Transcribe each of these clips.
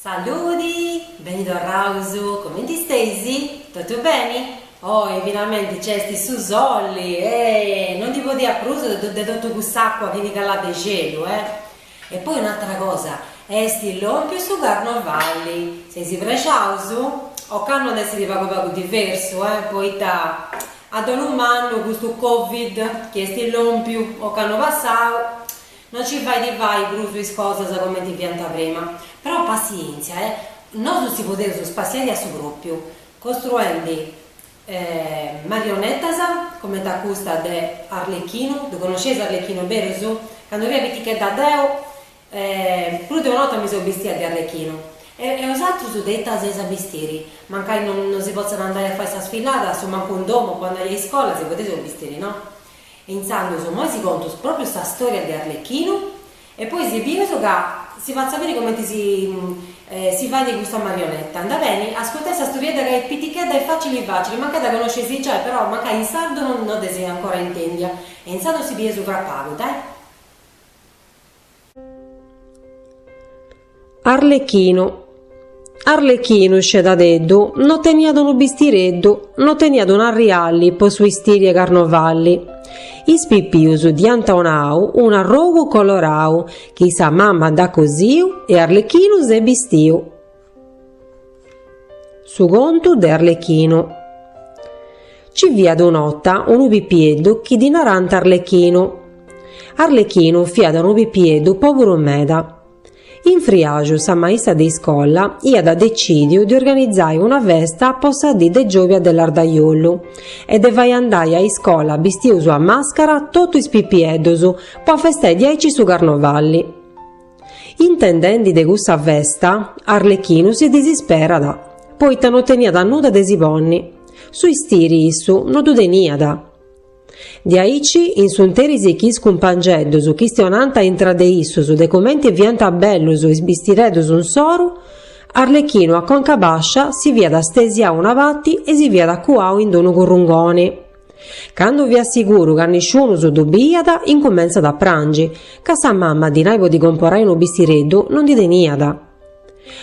Saludi, beni torraus, comenti steis? Totu beni? Oi finalmenti nc'est su soli, eh! No ndi podia prus de totu cuss'àcua chi ti calat de xelu, eh! E poi un'àtera cosa, est lòmpiu su carnovali, seis prexaus? Ocannu at a èssiri pagu pagu diversu, eh, poita A dolu mannu custu covid chi est lòmpiu ocannu passau no ci fait fai prus is cosas comenti fiaus prima. Però passièntzia nosu si podeus spassiai a su pròpiu costruendi marionetas comenti a custa de Arlechinu. Ddu connosceis Arlechinu berus? Candu fia pitichedda deu E prus de una 'orta mi seu bistia de Arlechinu. E e osatrus de ita si eis a bistiri? Mancai no no si potzat andai a fai sa sfilada, su mancu in domu, candu andais a iscola, si podeis bistiri, no? E intzandus immoi si contu pròpriu sa storia de Arlechinu e poi si bius ca si fatzu a biri comenti si si faidi custa marionetta. Andat beni? Ascurtai sa storiedda ca est pitichedda e facili facili, mancai dda conosceis giai, però mancai in sardu no no dd'eis ancora intendia e intzandus si bieus agoa pagu, dai. Arlechinu Arlechinu, scedadeddu, no teniat unu bistireddu, no teniat un'arrialli po su 'istiri 'e carnovalli. Is pipius dd'iant 'onau un'arrogu colorau chi sa mamma dd'at cosiu e Arlechinu s'est bistiu. Su contu de Arlechinu Ci fiat un'ota unu pipieddu chi ddi narant Arlechinu. Arlechinu fiat unu pipieddu pòburu meda. In friàxu sa maista de iscola iat decìdiu de organizai una festa po sa dì de giòbia de lardajollu e de fai andai a iscola bistius a màscara totu is pipieddus po afestai diaici su carnovalli. Intendendi de cussa festa, Arlechinu si disisperat, poita no teniat nudda de si ponni. Su istiri issu no ddu teniat. Diaici in su 'nteris chi is cumpangeddus chistionànt a intra de issus de comenti fiant bellus is bistireddus insoru, Arlechinu a conca bascia si fiat stesiau a una pati e si fiat cuau in d-unu currungoni. Candu fiat siguru ca nisciunus ddu biiat, incumentzat a prangi, ca sa mamma dinai po ddi comporai unu bistireddu no ndi teniat.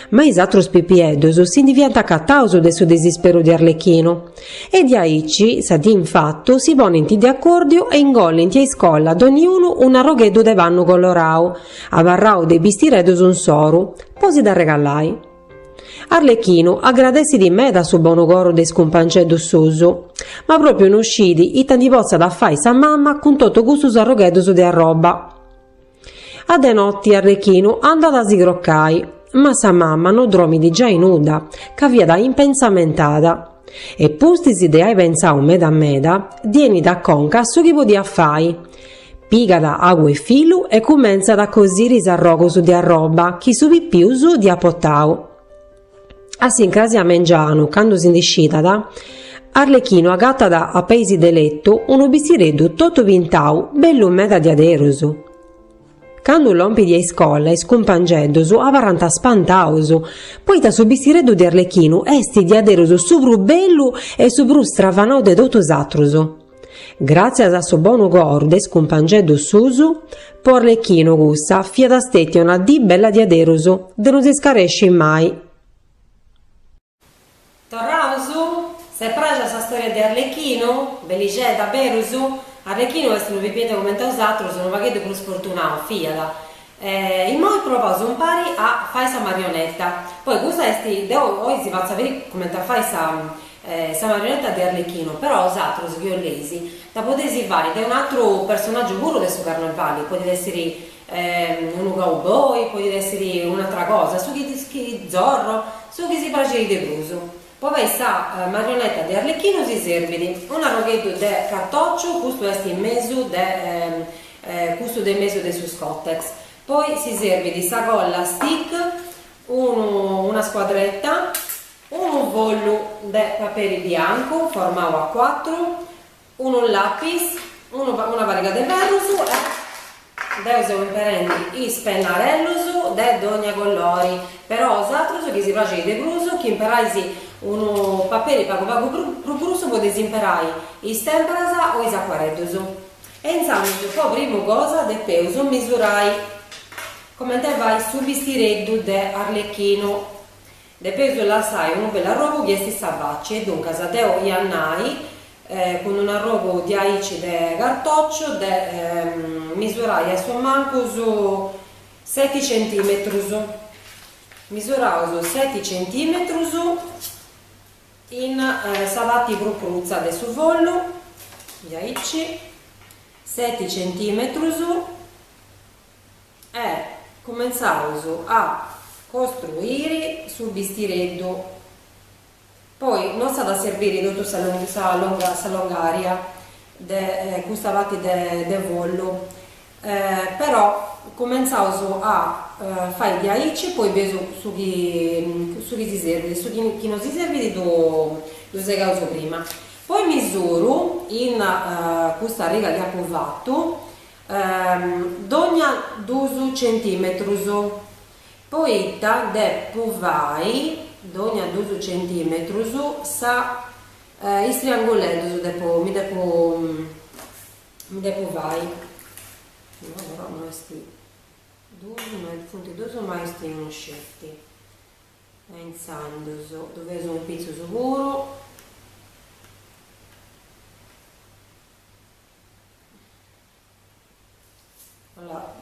Ma is atrus pipieddus si ndi fiant acataus de su disisperu de Arlechinu, e diaici sa dì in fatu si ponint de acòrdiu e ingolint a iscola donniunu un'arrogheddu de pannu colorau, abarrau de is bistireddus insoru, po si dd'arregalai. Arlechinu agradessit meda su bonu coro de is cumpanceddus suus, ma pròpiu no scit ita ndi potzat fai sa mama cun totu custus arrogheddus de arroba. A de noti Arlechinu andat a si crocai, ma sa mama no dromit giai nudda, ca fiat impensamentada, e pustis de ai pentzau meda meda, ddi 'enit a conca su chi podiat fai, Pigat agu e filu e cumentzat a cosiri is arrogos de arroba chi su pipiu dd'iat portau. A s'incrasi a mengianu, candu si ndi scidat, Arlechinu agatat a peis de letu unu bistireddu totu pintau bellu meda diaderus. Candu lompit a iscola is cumpangeddus abarrant spantaus, poita su bistireddu de Arlechinu est diaderus su prus bellu e su prus stravanau de totus is atrus. Gràtzias a su bonu coru de is cumpangeddus suus, po Arlechinu cussa fiat stètia una dì bella diaderus de no s'iscaresci mai. Torraus? S'est praxia sa stòria de Arlechinu? Bellixedda, berus? Arlechinu est unu pipieddu comente bosatrus, unu pagheddu prus sfortunau, fiat, E immoi provaus umpari a fai sa marionetta. Poi custa est, deu oi si fatzu a biri cumenti fai sa marionetta de Arlechinu, però bosatrus chi boleis dda podeis fai de un'atru personaggiu puru de su carnevali, podit essiri unu cowboy, podit essiri un'atra cosa, su chi Zorro, su chi si praxit de prus. Po fai sa marioneta de Arlechinu si serbit un'arrogheddu de cartòciu, custu est in mesu de custu de mesu de su scòtex, poi si serbit sa colla stick, unu una scuadreta, unu follu de paperi biancu formau A cuatru, Unu lapis, unu una pariga de ferrus e deu seu imperendi is pennarellus de dogna collori, però bosatrus chi si praxit de prus chi imperais unu paperi pagu pagu prus grussu podeis imperai is tèmperas o is acuarellus. E insandus po prima cosa depeus misurai comente fait su bistireddu de Arlechinu Depeus lassai unu bellu arrogu chi est sa faci e duncas deu ia nai cun unu arrogu diaici de cartòciu de misurai a su mancus seti centimetrus, misuraus seti centimetrus in sa parti prus crutza de su follu, diaici, seti centimetrus. e cumentzaus a costruiri su bistireddu, poi no s'at a serbiri totu sa longària de custa parti de follu, però cumentzaus a fai diaici e poi bieus su chi su chi si serbit, su chi no si serbit ddu segaus prima, poi misuru in custa riga chi apu fatu dogna duus centìmetrus, poita depu fai dogna duus centìmetrus sa is trianguleddus depu mi depu mi depu fai no est duus funt duus ma est unu sceti e intzandus ddu fatzu in pitzus puru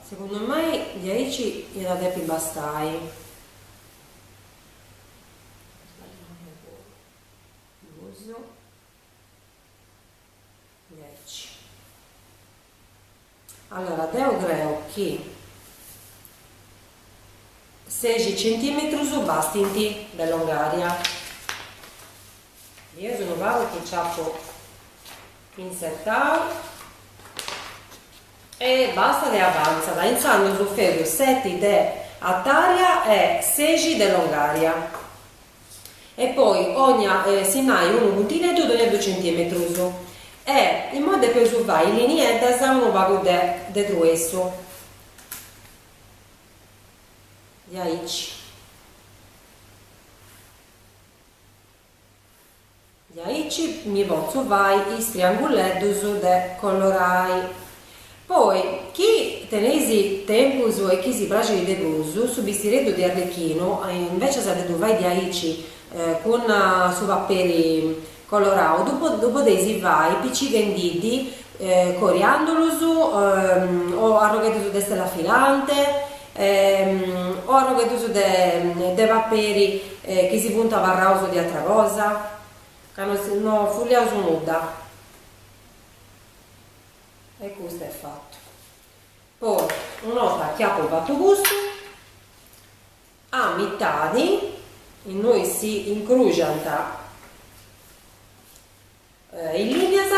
Segundu a mei diaici iat a depi bastai. Allora deu creu chi sexi centimetrus bastint de longària. Mi est unu pagu chi nci apu intzetau e bastat e avantzat intzandus su feti seti de artària e sexi de longària e poi tocat a sinnai unu puntineddu dogna dus centimetrus e imoi depeus fai linieddas unu pagu de de truessu diaici. Diaici mi potzu fai is trianguleddus de colorai. Poi, chi teneis tempus e chi si praxit de prus, su bistireddu de Arlechinu, invecias de ddu fai diaici cun su paperi colorau, ddu podeis fai picighendiddi coriandulus o arrogheddus de stella filante, O arrogheddus de paperi chi si funt abarraus de atra cosa, ca no fuliaus nudda. E custu est fatu. Poi una 'orta chi apu fatu custu, a mitadi innoi si incrùxant In lìnias,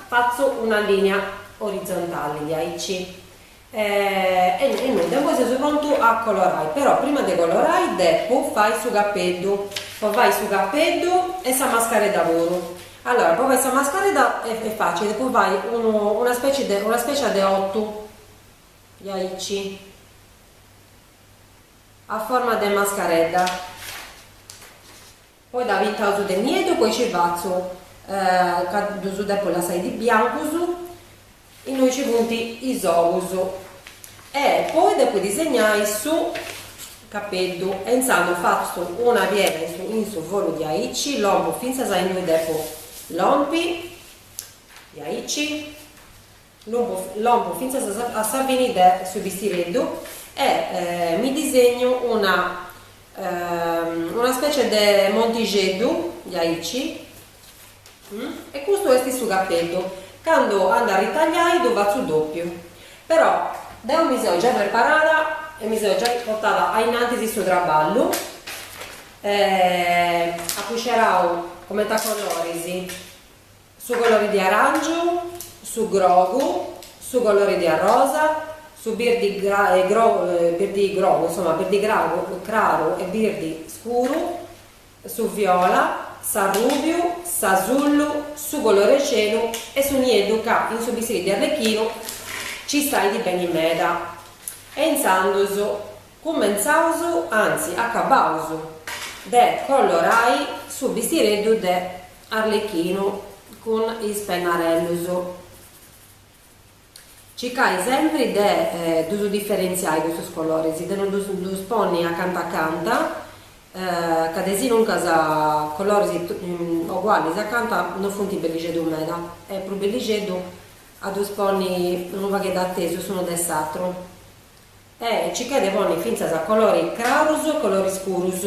fatzu una lìnia orizontali diaici e nudda, e imoi seus prontus a colorai, però prima de colorai depu fai su capeddu, po fai su capeddu e sa mascaredda puru, allora po fai sa mascaredda est est facili, depu fai unu una specie de una specie de ottu diaici a forma de mascaredda. Poi dda pintausu de nieddu, poi ci fatzu ca ddusu depu lassai biancusu, innui ci funti is ogusu e poi depu disegnai su capeddu e inzandus fatzu una piega in su in su folliu diaici, lompu fintzas a innui depu lompi, diaici, Lompu, lompu fintzas a sa fini de su bistireddu e mi disegnu una una specie de montixeddu diaici e custu est su capeddu, candu andu a ritagliai ddu fatzu dòpiu, però deu mi seu giai preparada e mi seu giai portada a innantis su traballu e apu scerau coment'e coloris Su colori di aràngiu, su grogu, su colori di arrosa, su birdi grogu, insoma, birdi craru e birdi scuru, su viola, s'arrùbiu, s'asullu, su colori 'e celu e su nieddu ca in su bistiri di arlechinu ci stait beni meda. E intzandus cumentzaus, anzi acabaus, de colorai su bistireddu de. Arlechinu cun is pennarellus. Circai sempri de ddus diferentziai custus coloris, de no ddus ponni acanta acanta, ca desinuncas coloris ogualis acanta no funt bellixeddus meda, est prus bellixeddu a ddus ponni unu pagheddu atesus s'unu de s'atru. E circai de ponni fintzas colori crarus e colori scurus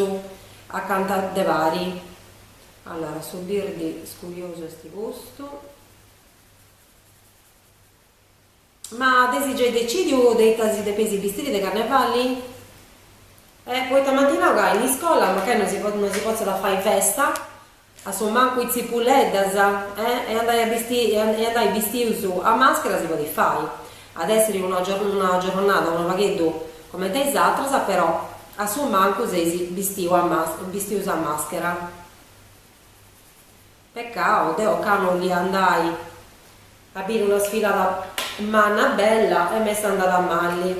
acanta de pari. Allora su birdi scuriosu est custu. Ma eis giai decidiu de ita si depeis bistiri de carnevali? Eh poita m'ant nau ca in iscola mancai no si no si potzat fai festa, a su mancu is tzipuleddas eh e andai a bisti e andai bistius a maschera si podit fai. At essiri una una giorronada unu pagheddu coment'e is atras però A su mancu seis bistius a maschera. Peccau, deo ca no 'olia andai a biri una sfilada manna bella e m'est andada mali.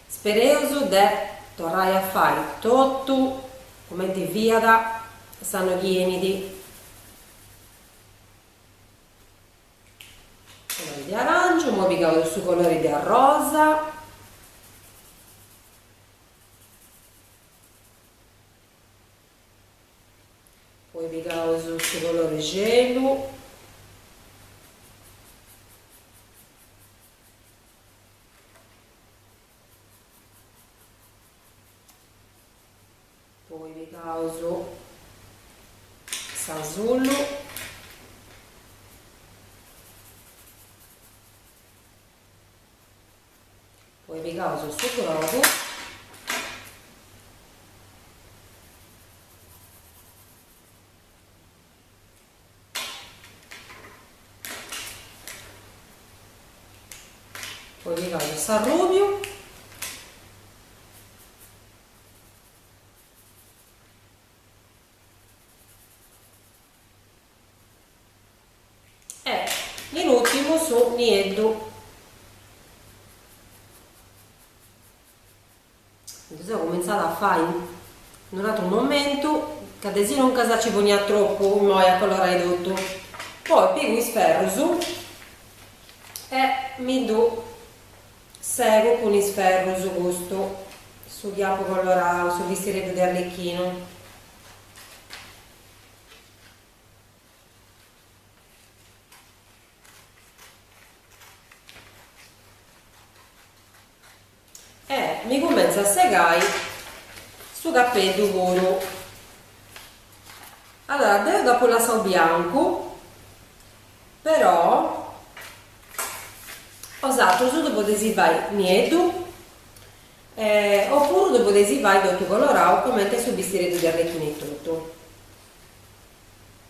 Spereus de torrai a fai totu comenti fiat s'annu chi 'enit. Colori de aràngiu, poi pigaus su colori de arrosa, poi pigaus su colori celu, Poi pigaus s'asullu. Poi pigaus su brodu. Poi pigaus s'arrubiu. E in ultimu su nieddu. Ddu seu cumintzau a fai in un'atru momentu ca de sinuncas nci ponia tropu immoi a colorai totu, poi pigu is ferrus e mi ddu segu cun is ferrus custu, su chi apu colorau, su bistireddu de Arlecchinu. E mi cumentzu a segai su capeddu puru. Allora deu dd'apu lassau biancu però osatrus ddu podeis fai nieddu e opuru ddu podeis fai totu colorau coment'est su bistireddu de Arlecchinu etotu.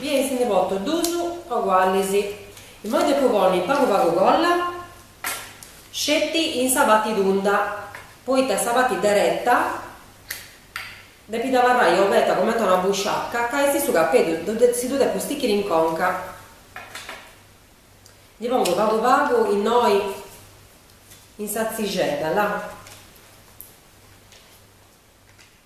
Bieis ndi poto dus ogualis. Immoi depu ponni pagu pagu colla, sceti in sa pati tunda, poita sa pati dereta depit abarrai obeta comenti a una busciaca ca esti su capedu, si ddu depu stichiri in conca. Ndi pongu pagu pagu innoi in sa tzixedda, là.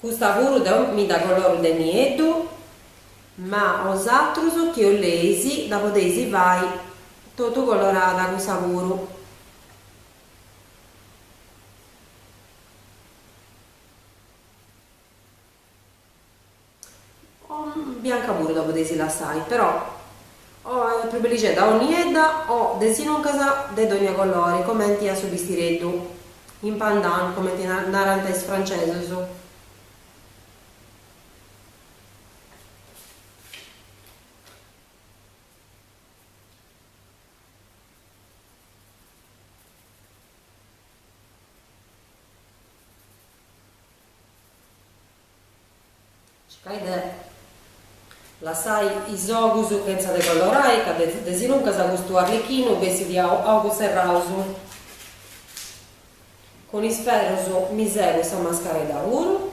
Custa puru deu mi dda coloru de nieddu, ma osatrus chi 'oleis dda podeis fai totu colorada cussa puru. O bianca puru dda podeis lassai, però est prus bellixedda o niedda o de sinuncas de dònnia colori comenti a su bistireddu, in pandan comenti narant is francesus. Circai de lassai is ogus chentza de collorai, ca de sinuncas custu arlechinu bessit a ogus serraus. Cun is ferrus mi segu sa mascaredda puru.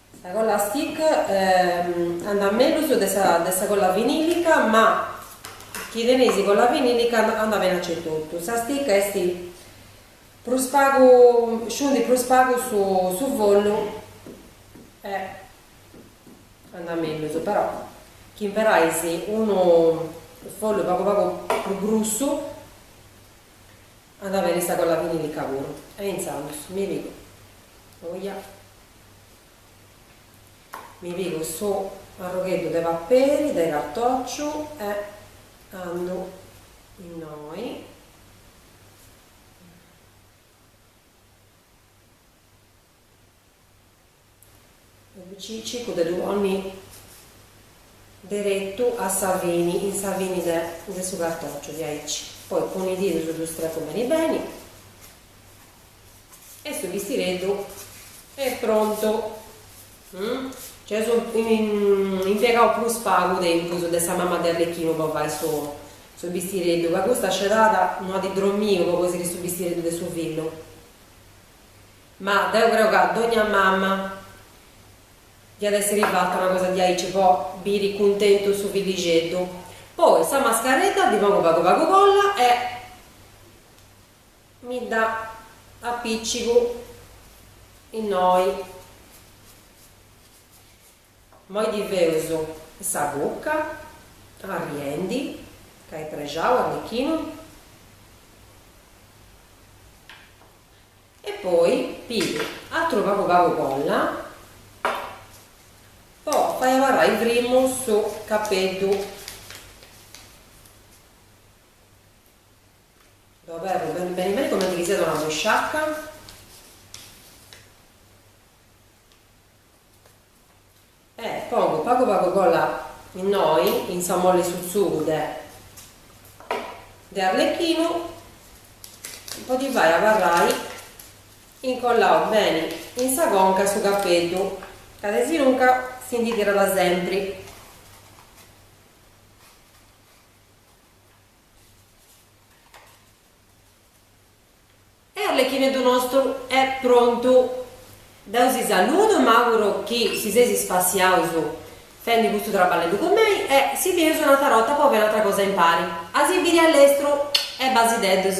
Sa colla a stick andat mellus de sa de sa colla vinilica ma chi teneis colla vinilica andat beni aici etotu. Sa stick esti prus pagu sciundit prus pagu su su follu e andat mellus però chi imperais unu follu pagu pagu prus grussu andat beni sa colla vinilica puru e intzandus mi pigu oia Mi pigu su arrogheddu de paperi de cartòciu e andu innoi. Circu de ddu ponni deretu a sa fini, in sa fini de su cartòciu, diaici. Poi cun is didus ddu strecu beni beni. E su bistireddu est prontu. Nc'eus impiegau prus pagu tempus de sa mama de Arlechinu po fai su bistireddu, ca custa scedada no at dromiu po cosiri su bistireddu de su fillu. Ma deu creu ca dogna mama diat essiri fata una cosa diaici po biri cuntentu su fillixeddu. Poi sa mascaredda ddi pongu pagu pagu colla e. Mi dda apìcigu innoi. Imoi ddi feus sa buca arriendi ca est prexau Arlechinu. E poi pigu atru pagu pagu colla po fai abarrai primu su capeddu. Ddu aberu beni beni beni comenti chi siat una busciacca. E pongu pagu pagu colla innoi in sa molli e su tzugu de de arlecchinu po ddi fai abarrai incolladu beni in sa conca 'e su capeddu ca desinunca si ndi tirat sempri. E Arlechineddu nostru est prontu. Deu si saludu e m'àuguru chi si seis spassiaus fendi custu traballeddu cun mei e si bius un'atra rota po fai un'atra cosa impari a si biri a lestru e basideddus.